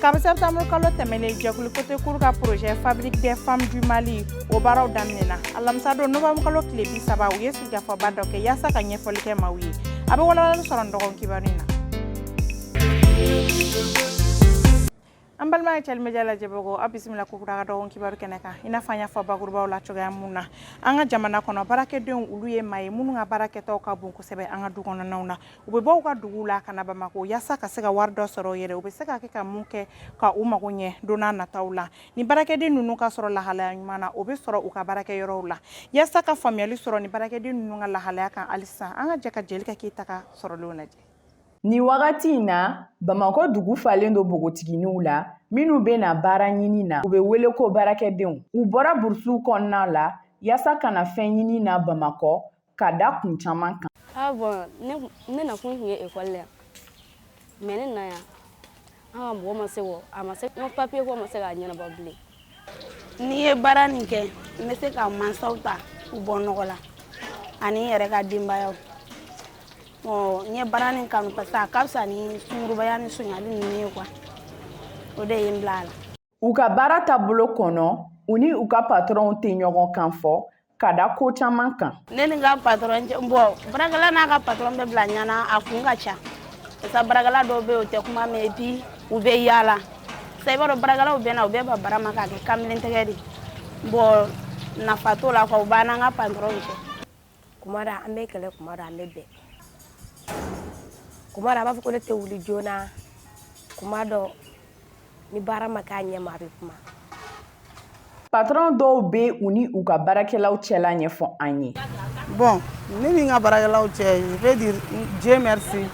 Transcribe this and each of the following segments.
Kabi septembre kalo tɛmɛnen jɛkulu Côté Cour ka projet fabrique des femmes du Mali o baaraw daminɛna alamisa don novembre kalo tile bi saba u ye sigikafɔba dɔ kɛ yaasa ka ɲɛfɔli kɛ maaw ye a bɛ walawalali sɔrɔ nin dɔgɔ kibaru in na an balima ye cɛli media lajɛbagaw aw bisimila ko kura ka dɔgɔ kibaru kɛnɛ kan i n'a fɔ an y'a fɔ bakurubaw la cogoya mun na an ka jamana kɔnɔ baarakɛdenw olu ye maa ye minnu ka baara kɛtaw ka bon kosɛbɛ an ka du kɔnɔnaw na u bɛ bɔ u ka dugu la ka na Bamakɔ yasa ka se ka wari dɔ sɔrɔ yɛrɛ u bɛ se ka kɛ ka mun kɛ ka u mago ɲɛ don nataw la ni baarakɛden ninnu ka sɔrɔ lahalaya ɲuman na u bɛ sɔrɔ u ka baarakɛ yɔrɔ la yasa ka faamuyali sɔrɔ ni baarakɛden ninnu ka lahalaya kan halisa an ka jɛ ka Jelika Keyita ka sɔrɔlen lajɛ Ni wagati in na Bamakɔ dugu falen don npogotigininw la minnu bɛ na baara ɲini na u bɛ wele ko baarakɛdenw u bɔra burusiw kɔnɔna la yasa ka na fɛn ɲini na Bamakɔ ka da kun caman kan bɔn ne nakun tun ye ekɔli la yan mɛ ne na yan an ka mɔgɔ ma se kɔ a ma se n ka papiye ko ma se k'a ɲɛnabɔ bilen ni n ye baara nin kɛ n bɛ se ka mansaw ta u bɔ nɔgɔ la ani n yɛrɛ ka denbayaw n ye baara nin kanu parce que a ka fisa ni sungurubaya ni sonyali ninnu ye kuwa o de ye n bila a la u ka baara taabolo kɔnɔ u ni u ka patɔrɔnw tɛ ɲɔgɔn kan fɔ ka da ko caman kan ne ni n ka patɔrɔn cɛ bɔn baarakɛla n'a ka patɔrɔn bɛ bila ɲɔgɔn na a kun ka ca parce que baarakɛla dɔw bɛ o tɛ kuma mɛn epi u bɛ yaala sa i b'a dɔn baarakɛlaw bɛ na u bɛ ban baara ma k'a kɛ kamalen tɛgɛ de bɔn nafa t'o la kuwa u b'an n'an ka patɔrɔnw cɛ kuma dɔ an bɛ kɛlɛ kuma dɔ an bɛ bɛn kuma dɔ a b'a fɔ ko ne tɛ wuli joona kuma dɔ ni baara ma k'a ɲɛ ma a bɛ kuma patron dɔw bɛ u ni u ka baarakɛlaw cɛla ɲɛfɔ an ye bɔn ne ni n ka baarakɛlaw cɛ je vais dire Dieu merci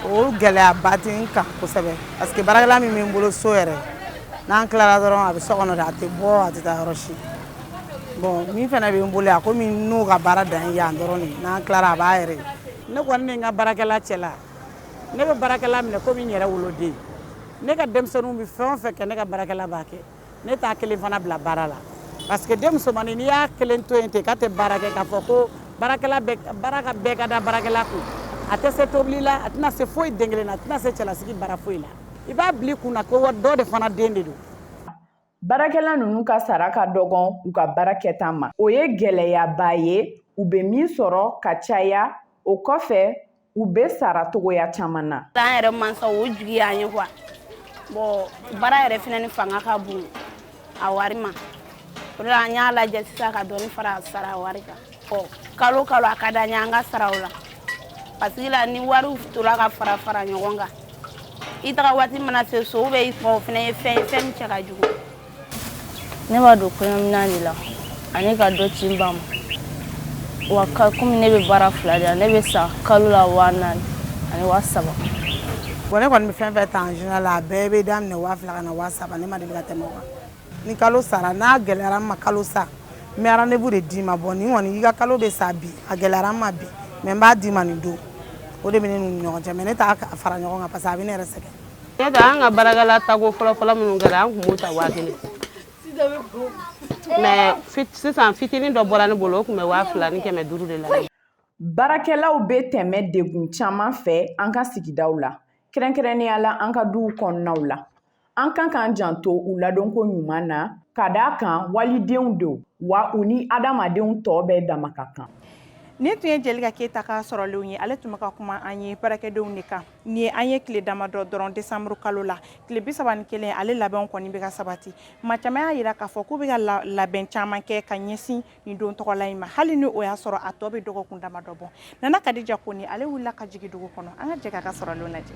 o gɛlɛyaba tɛ n kan kosɛbɛ parce que baarakɛla min bɛ n bolo so yɛrɛ n'an tilara dɔrɔn a bɛ so kɔnɔ a tɛ bɔ a tɛ taa yɔrɔ si Bɔn min fana bɛ n bolo a komi n'u ka baara dan ye yan dɔrɔn de n'an tilara a b'a yɛrɛ ne kɔni ni n ka baarakɛla cɛ la ne bɛ baarakɛla minɛ komi n yɛrɛ woloden ne ka denmisɛnninw bɛ fɛn o fɛn kɛ ne ka baarakɛla b'a kɛ ne t'a kelen fana bila baara la parce que den musomannin n'i y'a kelen to yen ten k'a tɛ baara kɛ k'a fɔ ko baara bɛɛ ka da baarakɛla kun a tɛ se tobili la a tɛna se foyi den kelen na a tɛna se cɛlasigi baara foyi la i b'a bila i kun na ko dɔ de fana den de don Baarakɛla ninnu ka sara ka dɔgɔn u ka baara kɛta ma o ye gɛlɛyaba ye u bɛ min sɔrɔ ka caya o kɔfɛ u bɛ sara cogoya caman na an yɛrɛ mansaw jigi y'an ye kuwa bɔn baara yɛrɛ fana ni fanga ka bon a wari ma o la an y'a lajɛ sisan ka dɔɔni fara sara wari kan ɔ kalo kalo a ka d'an ye an ka sara o la parce que la ni wariw tora ka fara fara ɲɔgɔn kan i taga waati mana se so bɛ i fɔ o fana ye fɛn ye fɛn min cɛ ka jugu ne b'a don kɔɲɔminan de la ani ka dɔ ci n ba ma wa komi ne bɛ baara fila de la ne bɛ sara kalo la waa naani ani waa saba bon ne kɔni bɛ fɛn fɛn ta en général a bɛɛ bɛ daminɛ waa fila ka na waa saba ne ma deli ka tɛmɛ o kan ni kalo sara n'a gɛlɛyara n ma kalo sa n bɛ rendez-vous de d'i ma bon nin kɔni i ka kalo bɛ sa bi a gɛlɛyara n ma bi mais n b'a d'i ma nin don o de bɛ ne n'u ni ɲɔgɔn cɛ mais ne t'a fara ɲɔgɔn kan parce que a bɛ ne yɛrɛ sɛgɛn ne tɛ an ka baarakɛla tako fɔlɔfɔlɔ minnu kɛra an tun b'u ta waa kelen mais sisan fitinin dɔ bɔra ne bolo o tun bɛ waa fila ni kɛmɛ duuru de la baarakɛlaw bɛ tɛmɛ degun caman fɛ an ka sigidaw la kɛrɛnkɛrɛnnenya la an ka duw kɔnɔnaw la An kan k'an janto u ladonko ɲuman na ka d'a kan walidenw don wa u ni adamadenw tɔw bɛɛ dama ka kan nin tun ye Jelika Keyita ka sɔrɔlenw ye ale tun bɛ ka kuma an ye baarakɛdenw de kan nin ye an ye tile damadɔ dɔrɔn desanburu kalo la tile bi saba ni kelen ale labɛnw kɔni bɛ ka sabati maa caman y'a jira k'a fɔ k'u bɛ ka labɛn caman kɛ ka ɲɛsin nin don tɔgɔla in ma hali ni o y'a sɔrɔ a tɔ bɛ dɔgɔkun damadɔ bɔ Nana Kadija Kɔnɛ ale wulila ka jigin dugu kɔnɔ an ka jɛ k'a ka sɔrɔlenw lajɛ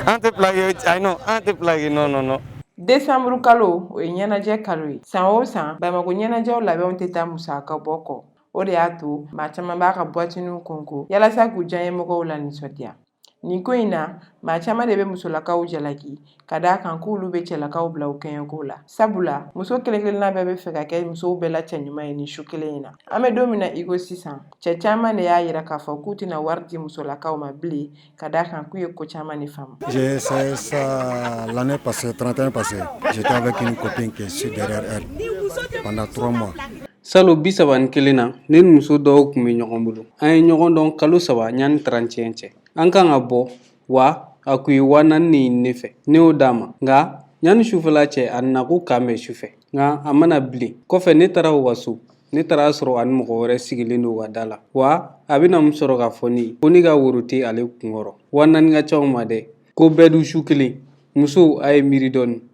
an tɛ plaki ayi non an tɛ plaki non non non desanburu kalo o ye ɲɛnajɛ kalo ye san o san Bamakɔ ɲɛnajɛw labɛnw tɛ taa musaka bɔ kɔ o de y'a to maa caman b'a ka buwatiniw kɔnkɔn yalasa k'u diyanyemɔgɔw lanisɔndiya nin ko in na maa caman de bɛ musolakaw jalaki ka d'a kan k'olu bɛ cɛlakaw bila u kɛɲɛko la sabula muso kelenkelenna bɛɛ b'a fɛ ka kɛ musow bɛɛ la cɛɲuman ye nin su kelen in na an bɛ don min na i ko sisan cɛ caman de y'a yira k'a fɔ k'u tɛna wari di musolakaw ma bilen ka d'a kan k'u ye ko caman de faamu Salon bi saba ni kelen na ne ni muso dɔ kun bɛ ɲɔgɔn bolo an ye ɲɔgɔn dɔn kalo saba yanni trente et un cɛ an kan ka bɔ wa a kun ye waa naani ɲini ne fɛ ne y'o d'a ma nka yanni sufɛla cɛ a nana ko k'an bɛn sufɛ nka a ma na bilen kɔfɛ ne taara u ka so ne taara a sɔrɔ a ni mɔgɔ wɛrɛ sigilen don u ka da la wa a bɛna mun sɔrɔ k'a fɔ ne ye ko ne ka woro tɛ ale kunkɔrɔ waa naani ka ca o ma dɛ k'o bɛɛ dun su kelen musow a ye miiri dɔɔni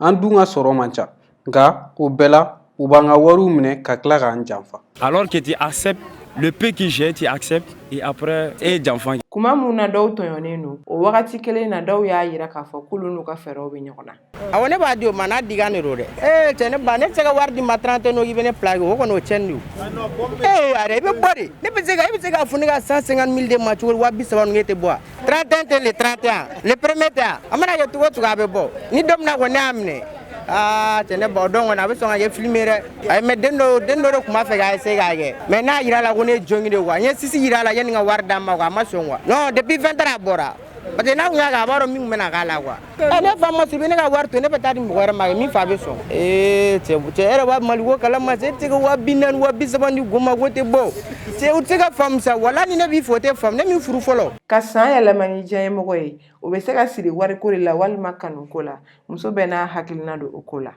an dun ka sɔrɔ man ca nka o bɛɛ la u b'an ka wariw minɛ ka tila k'an janfa alors que tu acceptes le peu que j'ai tu acceptes et après e ye janfa kɛ kuma min na dɔw tɔɲɔnen don o wagati kelen na dɔw y'a yira k'a fɔ k'olu n'u ka fɛɛrɛw bɛ ɲɔgɔn na awɔ ne b'a di o ma n'a digan de don dɛ ee cɛ ne ba ne tɛ se ka wari d'i ma 31 o i bɛ ne plaki o kɔni o cɛnni don ee yɛrɛ i bɛ bɔ de ne bɛ se ka e bɛ se k'a fɔ ne ka 150 000 d'e ma cogo di wa bi saba ninnu e tɛ bɔ wa 31 tɛ le 31 le premier tɛ a mana kɛ cogo o cogo a bɛ bɔ ni don min na kɔni ne y'a minɛ aa cɛ ne ba o don kɔni a bɛ sɔn ka kɛ film ye dɛ ayi mais den dɔ den dɔ de tun b'a fɛ k'a essayer k'a kɛ mais n y'a yira la ko ne ye junkie de quoi n ye sisi yira la yanni n ka wari d'a ma quoi a ma sɔn quoi non depuis 20 heures a bɔra parce que n'a tun y'a kɛ a b'a dɔn min tun bɛna k'a la quoi Eh, ne fa ma se ne ka wari to ne bɛ taa di mɔgɔ wɛrɛ ma e min fa bɛ sɔn eh, cɛ yɛrɛ b'a Mali ko kalama e tɛ se ka waa bi naani waa bi saba di go ma ko tɛ bɔ cɛ u tɛ se ka faamu sa wala ni ne b'i fɔ o tɛ faamu ne min furu fɔlɔ ka san yɛlɛma n'i diyanyemɔgɔ ye o bɛ se ka siri wariko de la walima kanuko la muso bɛɛ n'a hakilina don o ko la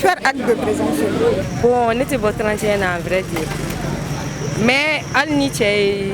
Faire acte de présence. Bon, ne tɛ bɔ 31 na en vrai dire. Mais hali ni cɛ ye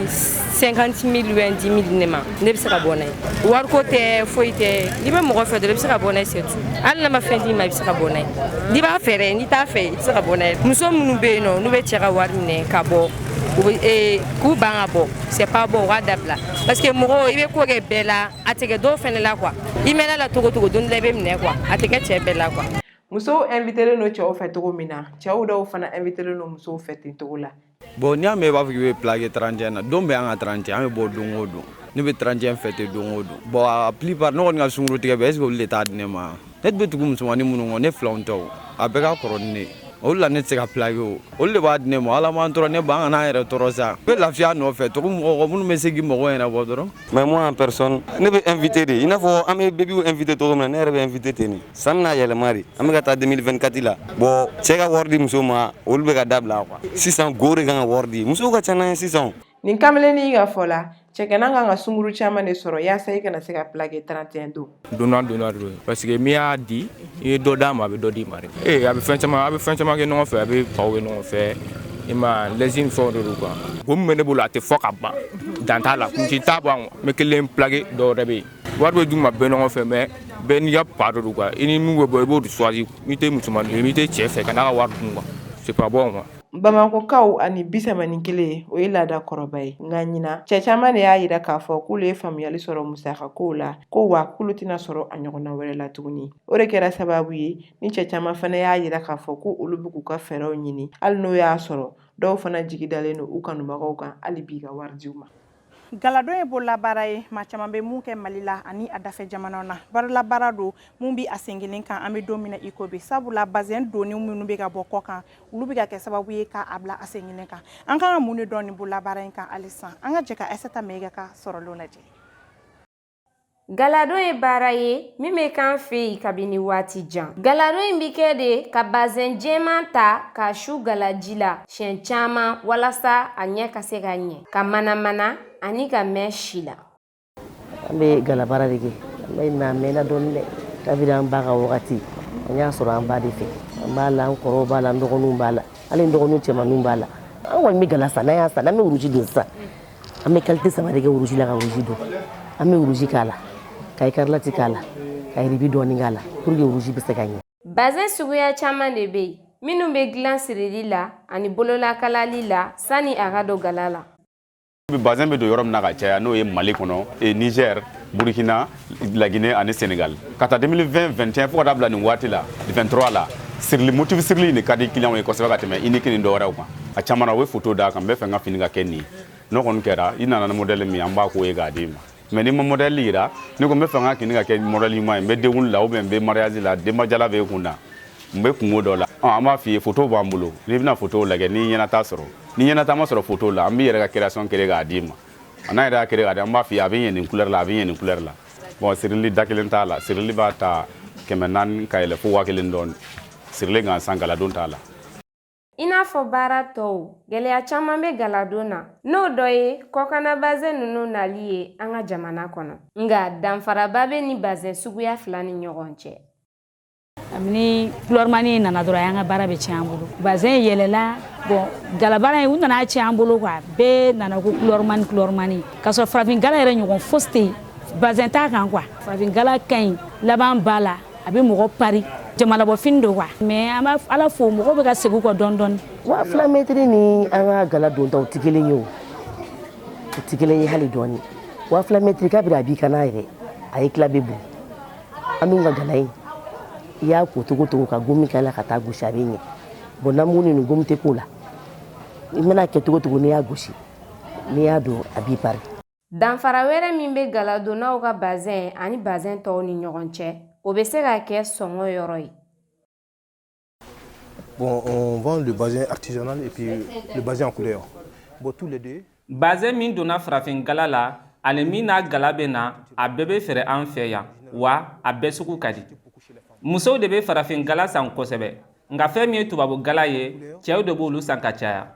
50 000 ou 10 000 ne ma ne bɛ se ka bɔ n'a ye wariko tɛ foyi tɛ n'i bɛ mɔgɔ fɛ dɔrɔn i bɛ se ka bɔ n'a ye c'est tout hali n'a ma fɛn d'i ma i bɛ se ka bɔ n'a ye n'i b'a fɛ dɛ n'i t'a fɛ i tɛ se ka bɔ n'a ye muso minnu bɛ yen nɔ n'u bɛ cɛ ka wari minɛ ka bɔ u bɛ ee k'u ban ka bɔ c'est pas bon u k'a dabila parce que mɔgɔ i bɛ ko kɛ bɛɛ la a tɛ kɛ dɔw fɛnɛ la quoi i mɛnna la cogo o cogo don dɔ i bɛ minɛ quoi a tɛ kɛ cɛ bɛɛ la quoi musow invitelen don cɛw fɛ cogo min na cɛw dɔw fana invitelen don musow fɛ ten cogo la bon n'i y'a mɛn i b'a fɔ k'i bɛ plaqué 31 na don bɛɛ an ka 31 an bɛ bɔ don o don ne bɛ 31 fêter don o don bon a plupart ne kɔni ka sungurutigɛ bɛɛ est ce que olu de t'a di ne ma ne bɛ tugu musomannin minnu kɔ ne filanw tɛ o a bɛɛ ka kɔrɔ ni ne ye olu la ne tɛ se ka plaqué o olu de b'a di ne ma ala m'an tɔɔrɔ ne ba an kana an yɛrɛ tɔɔrɔ sa n bɛ lafiya nɔfɛ tɔgɔ mɔgɔ minnu bɛ se k'i mɔgɔ yɛrɛ bɔ dɔrɔn mais moi en personne ne bɛ invité de i n'a fɔ an bɛ bebiw invité cogo min na ne yɛrɛ bɛ invité ten nin san bɛna yɛlɛma de an bɛ ka taa 2024 la bon cɛ ka wari di muso ma olu bɛ ka dabila quoi sisan go de kan ka wari di musow ka ca n'an ye sisan nin kamalennin ka fɔ la cɛganan kan ka sunguru caman de sɔrɔ yaasa i kana se ka plaqué 31 don donnant donnant don parce que min y'a di i ye dɔ d'a ma a bɛ dɔ d'i ma dɛ ee a bɛ fɛn caman a bɛ fɛn caman kɛ ɲɔgɔn fɛ a bɛ paw kɛ ɲɔgɔn fɛ i ma lɛsi ni fɛnw de don quoi ko min bɛ ne bolo a tɛ fɔ ka ban dan t'a la kuncɛ t'a ban n bɛ kelen plaqué dɔw yɛrɛ bɛ yen wari bɛ d'u ma bɛɛ ɲɔgɔn fɛ mais bɛɛ n'i ka pa de don quoi i ni min bɛ bɔ i b'o de choisir n'i tɛ musoman n'i tɛ cɛ fɛ kan'a ka wari dun quoi c'est pas bon quoi bamakɔkaw ani bi saba ni kelen o ye laada kɔrɔba ye nka ɲinan cɛ caman de y'a yira k'a fɔ k'olu ye faamuyali sɔrɔ musakakow la ko wa k'olu tɛna sɔrɔ a ɲɔgɔnna wɛrɛ la tuguni o de kɛra sababu ye ni cɛ caman fana y'a yira k'a fɔ ko olu bɛ k'u ka fɛɛrɛw ɲini hali n'o y'a sɔrɔ dɔw fana jigi dalen don u kanubagaw kan hali bi ka wari d'u ma Galadon ye bolola baara ye maa caman bɛ mun kɛ Mali la ani a dafɛ jamanaw na bolola baara don min bɛ a sen kelen kan an bɛ don min na i ko bi sabula bazin donnen minnu bɛ ka bɔ kɔkan olu bɛ ka kɛ sababu ye k'a bila a sen kelen kan an kan ka mun de dɔn nin bolola baara in kan halisa an ka jɛ ka Aïssata Maïga ka sɔrɔlenw lajɛ. Galadon ye baara ye min bɛ k'an fɛ yen kabini waati jan. Galadon in bɛ kɛ de ka bazɛn jɛman ta k'a su galaji la siɲɛ caman walasa a ɲɛ ka se ka ɲɛ, ka manamana ani ka mɛn si la. An bɛ galabaara de kɛ. An b'a mɛnna dɔɔni dɛ. Kabini an ba ka wagati, an y'a sɔrɔ an ba de fɛ. An b'a la, an kɔrɔw b'a la, an dɔgɔninw b'a la, hali n dɔgɔninw cɛmanninw b'a la. An kɔni bɛ gala san, n'an y'a san, an bɛ wuruji don sisan. an bɛ kalite saba de kɛ wuruji la ka wuruji don an bɛ wuruji k'a la ka ikarlati k'a la ka yiribi dɔɔni k'a la pour que wuruji bɛ se ka ɲɛ bazin suguya caman de bɛ yen minnu bɛ dilan sirili la ani bololakalali la sani a ka don gala la bazin bɛ don yɔrɔ min na ka caya n'o ye mali kɔnɔ nizɛri burukina laginɛ ani senegal k'a ta 2020 21 fo ka taa bila nin waati la 23 la sirili motifu sirili de ka di kiliyanw ye kosɛbɛ ka tɛmɛ unique ni dɔwɛrɛw kan a caman na u bɛ foto d'a kan n bɛ fɛ n ka fini ka kɛ nin n'o kɔni kɛra i nana ni modɛli min an b'a k'o ye k'a d'i ma mɛ n'i ma modɛli yira n'i ko n bɛ fɛ n ka fini ka kɛ modɛli ɲuman ye n bɛ denkundi la ubiyɛn n bɛ mariyazi la denbajala bɛ kun na n bɛ kunko dɔ la an b'a f'i ye foto b'an bolo n'i bɛna fotow lajɛ n'i ɲɛnata sɔrɔ n'i ɲɛnata ma sɔrɔ foto la an b'i yɛrɛ ka création kere k'a d'i ma a n'a yɛrɛ y'a kere k'a di an b'a f'i ye a bɛ ɲɛ nin couleur la a bɛ ɲɛ nin couleur la bon sirili da kelen t'a la sirili b'a ta kɛmɛ naani ka yɛlɛ fo waa kelen dɔɔni sirili gansan galadon t'a la I n'a fɔ baara tɔw, gɛlɛya caman bɛ galadon na, n'o dɔ ye kɔkanna bazɛn ninnu nali ye an ka jamana kɔnɔ. Nka danfaraba bɛ nin bazɛn suguya fila ni ɲɔgɔn cɛ. ni kulɔrimani nana dɔrɔn y'an ka baara bɛɛ tiɲɛ an bolo bazɛn yɛlɛla bon galabaara ye u nana tiɲɛ an bolo kuwa bɛɛ nana ko kulɔrimani kulɔrimani k'a sɔrɔ farafin gala yɛrɛ ɲɔgɔn fosi tɛ yen bazɛn t'a kan kuwa farafin gala ka ɲi laban b'a la a bɛ mɔgɔ pari jamanabɔfini don kuwa mɛ an b'a ala fo mɔgɔ bɛ ka segin kɔ dɔɔni dɔɔni waa fila mɛtiri ni an ka gala dontaw tɛ kelen ye o u tɛ kelen ye hali dɔɔni waa fila mɛtiri kabini a b'i kan na yɛrɛ a ɲɛ tila bɛ bɔn An dun ka gala in i y'a ko cogo cogo ka gomi k'a la ka taa gosi a bɛ ɲɛ bon namu ninnu gomi tɛ k'o la i mana kɛ cogo cogo n'i y'a gosi n'i y'a don a b'i pari danfara wɛrɛ min bɛ galadonnaw ka bazɛn ani bazɛn tɔw ni ɲɔgɔn cɛ o bɛ se ka kɛ sɔngɔ yɔrɔ ye Bon, on vend le bazin artisanal et puis le bazin en couleur. Bon, tous les deux. Bazin min donna farafin gala la ani min n'a gala bɛ na a bɛɛ bɛ feere an fɛ yan wa a bɛɛ sugu ka di musow de bɛ farafin gala san kosɛbɛ nka fɛn min ye tubabu gala ye cɛw de b'olu san ka caya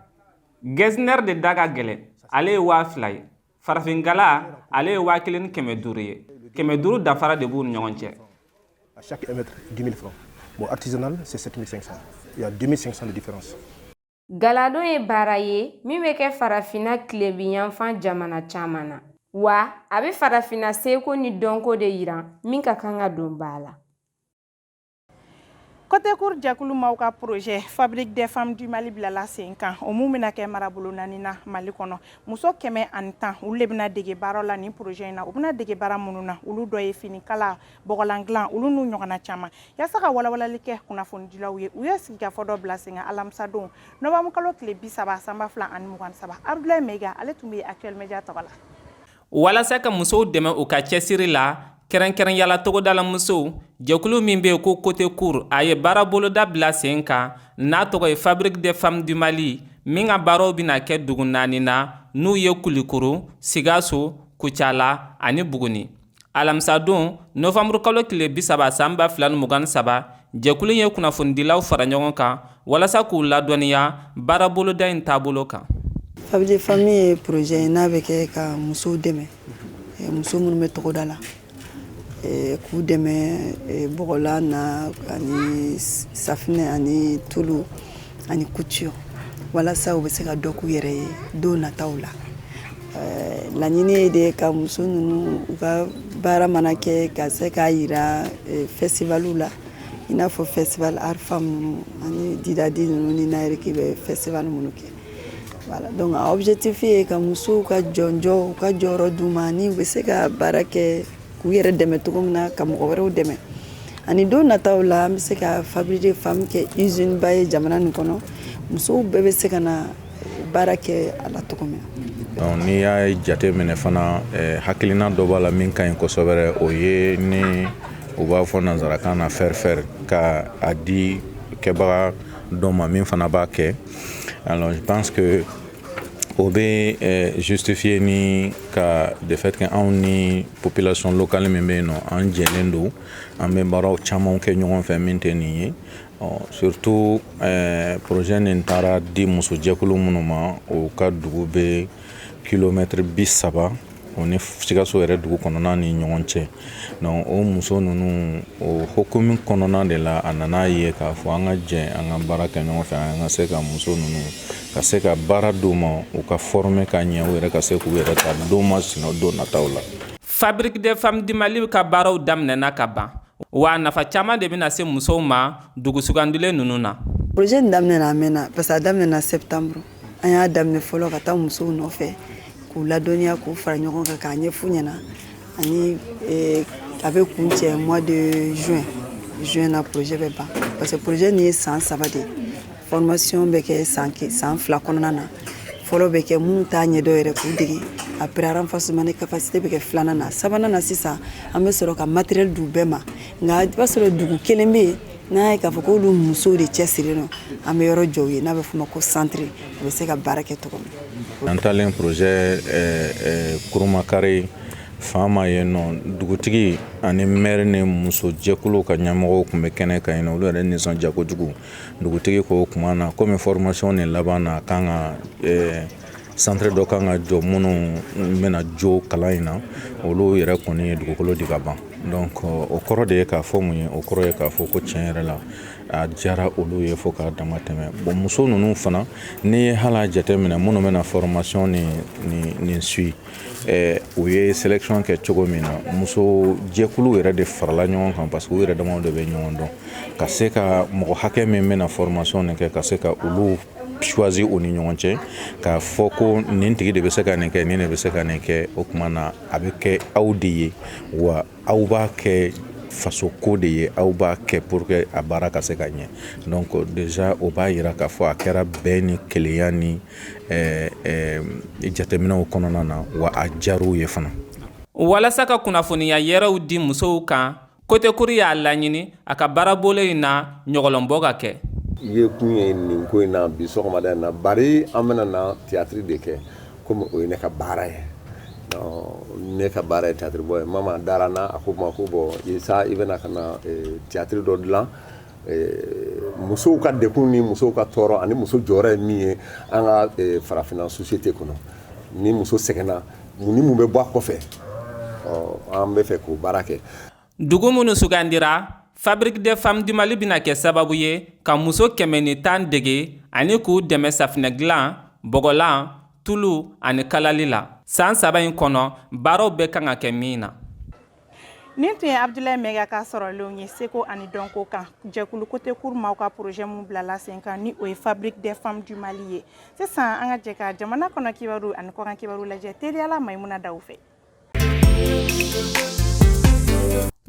Getzner de da ka gɛlɛn ale ye waa fila ye farafin gala ale ye waa kelen ni kɛmɛ duuru ye kɛmɛ duuru danfara de b'u ni ɲɔgɔn cɛ chaque mètre 10 000 francs bon artisanal c'est 7500 il y a 2500 de différence galadon ye baara ye min bɛ kɛ farafina tilebiyanfan jamana caman na wa a bɛ farafina seko ni dɔnko de yiran min ka kan ka don ba la Côté cour jɛkulu maaw ka projet fabrique des femmes du mali bilala sen kan o min bɛna kɛ marabolo naani na mali kɔnɔ muso kɛmɛ ani tan olu de bɛna dege baara la ni projet in na u bɛna dege baara minnu na olu dɔ ye finikala bɔgɔlan dilan olu n'u ɲɔgɔnna caman yaasa ka walawalali kɛ kunnafonidilaw ye u ye sigikafɔ dɔ bila sen kan alamisadon novanburukalo tile bi saba san ba fila ani mugan saba Abdoulaye Maiga ale tun bɛ yen Actuel Média tɔgɔ la walasa ka musow dɛmɛ u ka cɛsiri la kɛrɛnkɛrɛnya la togodala musow jɛkulu min be ko côté cour a ye baara boloda bila sen kan n'a tɔgɔ ye fabrique des femmes du mali min ka baaraw bena kɛ dugu naani na n'u ye kulikoro sikaso kucala ani buguni alamisadon novanburukalo tile bisaba san ba fila ni mugan saba jɛkulu ye kunnafonidilaw fara ɲɔgɔn kan walasa k'u ladɔnniya baaraboloda in taabolo kan Fabrique des femmes ye projet ye n'a bɛ kɛ ka musow dɛmɛ eh, muso minnu bɛ togoda la eh, k'u dɛmɛ eh, bɔgɔlan na ani safinɛ ani tulu ani couture walasa u bɛ se ka dɔ k'u yɛrɛ ye don nataw la Laɲini ye de ka muso ninnu u ka baara mana kɛ ka se k'a jira festivaliw la i n'a fɔ festival art femme ninnu ani didadi ninnu ni Nangnerki bɛ festival minnu kɛ donc a objectif ye ka musow ka jɔnj u ka jɔyɔrɔ d'u ma n'u bɛ se ka baara kɛ k'u yɛrɛ dɛmɛ cogo min na ka mɔgɔ wɛrɛw dɛmɛ ani don nataw la an bɛ se ka fabrique des femmes kɛ usine ba ye jamana nin kɔnɔ musow bɛɛ bɛ se ka na baara kɛ a la cogo min na n'i y'a jate minɛ fana hakilina dɔ b'a la min ka ɲi kosɛbɛ o ye ni u b'a fɔ nanzarakan na faire faire ka a di kɛbaga dɔ ma min fana b'a kɛ alors je pense que o bɛ justifier ni ka de fait que anw ni population locale min bɛ yen nɔ an jɛlen don an bɛ baaraw caman kɛ ɲɔgɔn fɛ min tɛ nin ye surtout projet nin taara di musojɛkulu minnu ma o ka dugu bɛ kilomɛtiri bi saba o ni sikaso yɛrɛ dugu kɔnɔna ni ɲɔgɔn cɛ donc o muso ninnu o hukumu kɔnɔna de la an nana a ye k'a fɔ an ka jɛ an ka baara kɛ ɲɔgɔn fɛ an ka se ka muso ninnu ka se ka baara d'u ma u ka former ka ɲɛ u yɛrɛ ka se k'u yɛrɛ ta don ma sina don nataw la fabrique des femmes du mali ka baaraw daminɛna ka ban wa nafa caman de bɛna se musow ma dugu sugandilen ninnu na projet in daminɛna a mɛnna parce que a daminɛna septembre an y'a daminɛ fɔlɔ ka taa musow nɔfɛ k'u ladɔnniya k'u fara ɲɔgɔn kan k'a ɲɛf'u ɲɛna ani eh, a bɛ kuncɛ mois de juin juin na projet bɛ ban parce que projet nin ye san saba de ye Formation bɛ kɛ san san fila kɔnɔna na fɔlɔ bɛ kɛ minnu t'a ɲɛdɔn yɛrɛ k'u dege après renforcement de capacité bɛ kɛ filanan na sabanan na sisan an bɛ sɔrɔ ka matériel d'u bɛɛ ma nka i b'a sɔrɔ dugu kelen bɛ yen n'a ye k'a fɔ k'olu musow de cɛsirilen don an bɛ yɔrɔ jɔ u ye n'a bɛ f'o ma ko centre u bɛ se ka baara kɛ cogo min an taalen projet Kurumakari faama yen nɔ dugutigi ani maire ni musojɛkulu ka ɲɛmɔgɔw tun bɛ kɛnɛ kan yen olu yɛrɛ nisɔndiya kojugu dugutigi ko o tuma na kɔmi fɔrɔmasiɔn nin laban na kan ka centre dɔ kan ka jɔ minnu bɛna jo kalan in na olu yɛrɛ kɔni ye dugukolo di ka ban donc o kɔrɔ de ye k'a fɔ mun ye o kɔrɔ ye k'a fɔ ko tiɲɛ yɛrɛ la a diyara olu ye fo k'a dama tɛmɛ bon muso ninnu fana n'i ye hala jate minɛ minnu bɛna fɔrɔmasiɔn nin suivi Eh, u ye selection kɛ cogo min na muso jɛkulu yɛrɛ de farala ɲɔgɔn kan parce que u yɛrɛ damaw de bɛ ɲɔgɔn dɔn ka se ka mɔgɔ hakɛ min bɛna formation nin kɛ ka se ka olu choisi u ni ɲɔgɔn cɛ k'a fɔ ko nin tigi de bɛ se ka nin kɛ nin de bɛ se ka nin kɛ o tuma na a bɛ kɛ aw de ye wa aw b'a kɛ faso ko de ye aw b'a kɛ pour que a baara ka se ka ɲɛ donc déjà o b'a yira k'a fɔ a kɛra bɛn ni kelenya ni jateminɛw kɔnɔna na wa a diyar'u ye fana walasa ka kunnafoniya yɛrɛw di musow kan Côté Court y'a laɲini a ka baarabolo in na ɲɔgɔlɔn bɔ ka kɛ i ye kun ye nin ko in na bi sɔgɔmada in na bari an bɛna na tiyatiri de kɛ komi o ye ne ka baara ye ne ka baara ye tiyatiri bɔ ye Mama dara n na a ko n ma ko bon sa i bɛna ka na tiyatiri dɔ dilan musow ka degun ni musow ka tɔɔrɔ ani muso jɔyɔrɔ ye min ye an ka farafinna société kɔnɔ ni muso sɛgɛnna mun ni mun bɛ bɔ a kɔfɛ an bɛ fɛ k'o baara kɛ dugu minnu sugandira fabrique des femmes du Mali bɛna kɛ sababu ye ka muso kɛmɛ ni tan dege ani k'u dɛmɛ safinɛ dilan bɔgɔlan tulu ani kalali la san saba in kɔnɔ baaraw bɛ kan ka kɛ min na Nin tun ye Abudulayi Mɛyiga ka sɔrɔlenw ye seko ani dɔnko kan jɛkulu Côté Court maaw ka projet min bilala senkan ni o ye fabrique des femmes du Mali ye sisan an ka jɛ ka jamana kɔnɔ kibaru ani kɔkan kibaru lajɛ teliya la Mayimuna Dawu fɛ.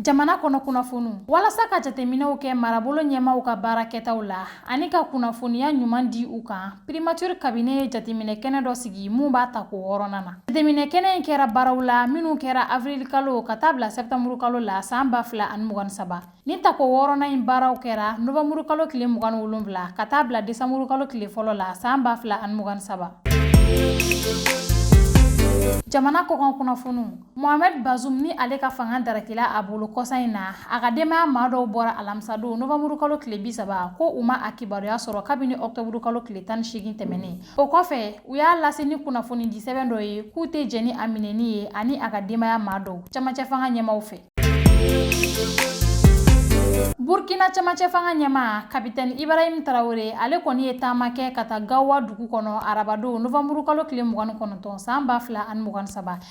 Jamana kɔnɔ kunnafoniw walasa ka jateminɛw kɛ marabolo ɲɛmaaw ka baara kɛtaw la. ani ka kunnafoniya ɲuman di u kan primature cabinet ye jateminɛ kɛnɛ dɔ sigi min b'a tako wɔɔrɔnan na jateminɛ kɛnɛ in kɛra baaraw la minw kɛra avril kalo ka taa bila sɛptanburu kalo la san ba fila ani mugan ni saba ni tako wɔɔrɔnan in baaraw kɛra novanburu kalo tile mugan ni wolonwula ka taa bila desanburu kalo tile fɔlɔ la san ba fila ani mugan ni saba jamana kɔkan kunnafoniw Mohamed Bazoum ni ale ka fanga darakila a bolo kɔsa in na a ka denbaya maa dɔw bɔra alamisadon novanburu kalo tile bi saba ko u ma a kibaruya sɔrɔ kabini ɔktɔburu kalo tile tan ni seegin tɛmɛnen o kɔfɛ u y'a lase ni kunnafonidi sɛbɛn dɔ ye k'u tɛ jɛn ni a minɛni ye ani a ka denbaya maa dɔw camancɛ fanga ɲɛmaaw fɛ burkina camancɛ fanga ɲɛmaa kapitɛni ibrahim tarawele ale kɔni ye taama kɛ ka taa gawa dugu kɔnɔ arabadon novanburu kalo tile mugan ni kɔnɔntɔn san ba fila ani mugan ni saba